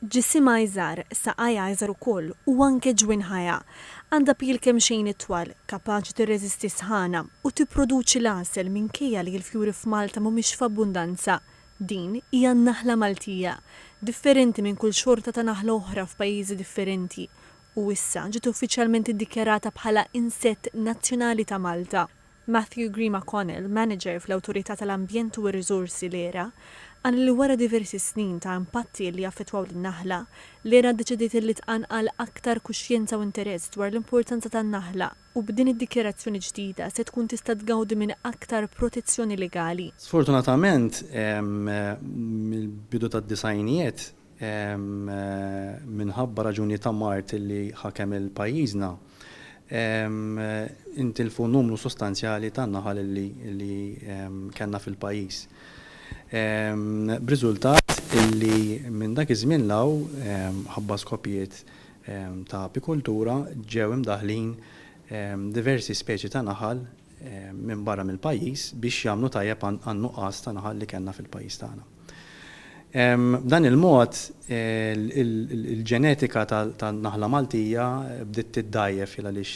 Ġisimha iżgħar, saqajha iżgħar ukoll u anke ġwinħajha. Għandha pil kemxejn itwal, kapaċi tirreżisti s-sħana u tipproduċi l-għasel minkejja li l-fjuri f'Malta mhumiex f'abbundanza. Din hija n-naħla Maltija, differenti minn kull xorta ta' naħla oħra f'pajjiżi differenti, u issa ġiet uffiċjalment iddikjarata bħala Insett Nazzjonali ta' Malta. Matthew Grima Connell, Manager fl-Awtorità tal-Ambjent u r-Riżorsi l-ERA, qal li wara diversi snin ta' impatti li jaffettwaw lin-naħla, l-ERA ddeċidiet li tqanqal aktar kuxjenza u interess dwar l-importanza tan-naħla u b'din id-dikjarazzjoni ġdida se tkun tista' tgawdi minn aktar protezzjoni legali. Sfortunatament, mill-bidu tad-disgħinijiet, minħabba raġunijiet ta' mard li ħakem il-pajjiżna, intilfu numru sostanzjali ta' naħal li kellna fil-pajjiż. B'riżultat li minn dak iż-żmien 'l hawn, mħabba skopijiet ta' apikultura, ġew imdaħħlin diversi speċi ta' naħal minn barra mill-pajjiż biex jagħmlu tajjeb għan-nuqqas ta' naħal li kellna fil-pajjiż tagħna. B'dan il-mod, il-ġenetika tan-naħla Maltija bdiet tiddgħajjef għaliex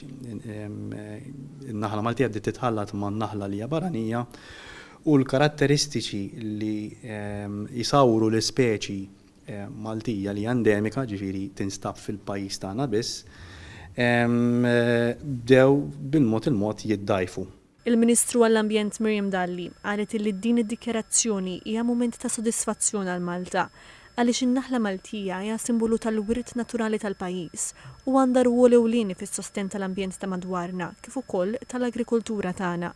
in-naħla Maltija bdiet titħallat man-naħla li hija barranija u l-karatteristiċi li jsawwru l-ispeċi Maltija li hija endemika, jiġifieri tinstab fil-pajjiż tagħna biss, bdew bil-mod il-mod jiddgħajfu. Il-Ministru għall-Ambjent Miriam Dalli qalet illi din id-dikjarazzjoni hija mument ta' sodisfazzjon għal Malta għaliex in-naħla Maltija hija simbolu tal-wirt naturali tal-pajjiż u għandha rwol ewlieni fis-sostenn tal-ambjent ta' madwarna kif ukoll tal-agrikoltura tagħna.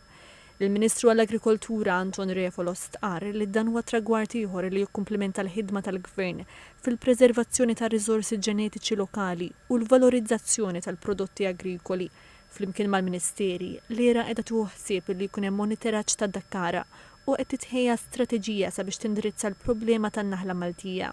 Il-Ministru għall-Agrikoltura Anton Refalo stqarr li dan huwa tragward ieħor li jikkumplimenta l-ħidma tal-Gvern fil-preservazzjoni tar-riżorsi ġenetiċi lokali u l-valorizzazzjoni tal-prodotti agrikoli Flimkien mal-Ministeri, l-IRA qiegħda tieħu ħsieb li jkun hemm moniteraġġ tad-dakkara u qed titħejja strateġija sabiex tindirizza l-problema tan-naħla Maltija.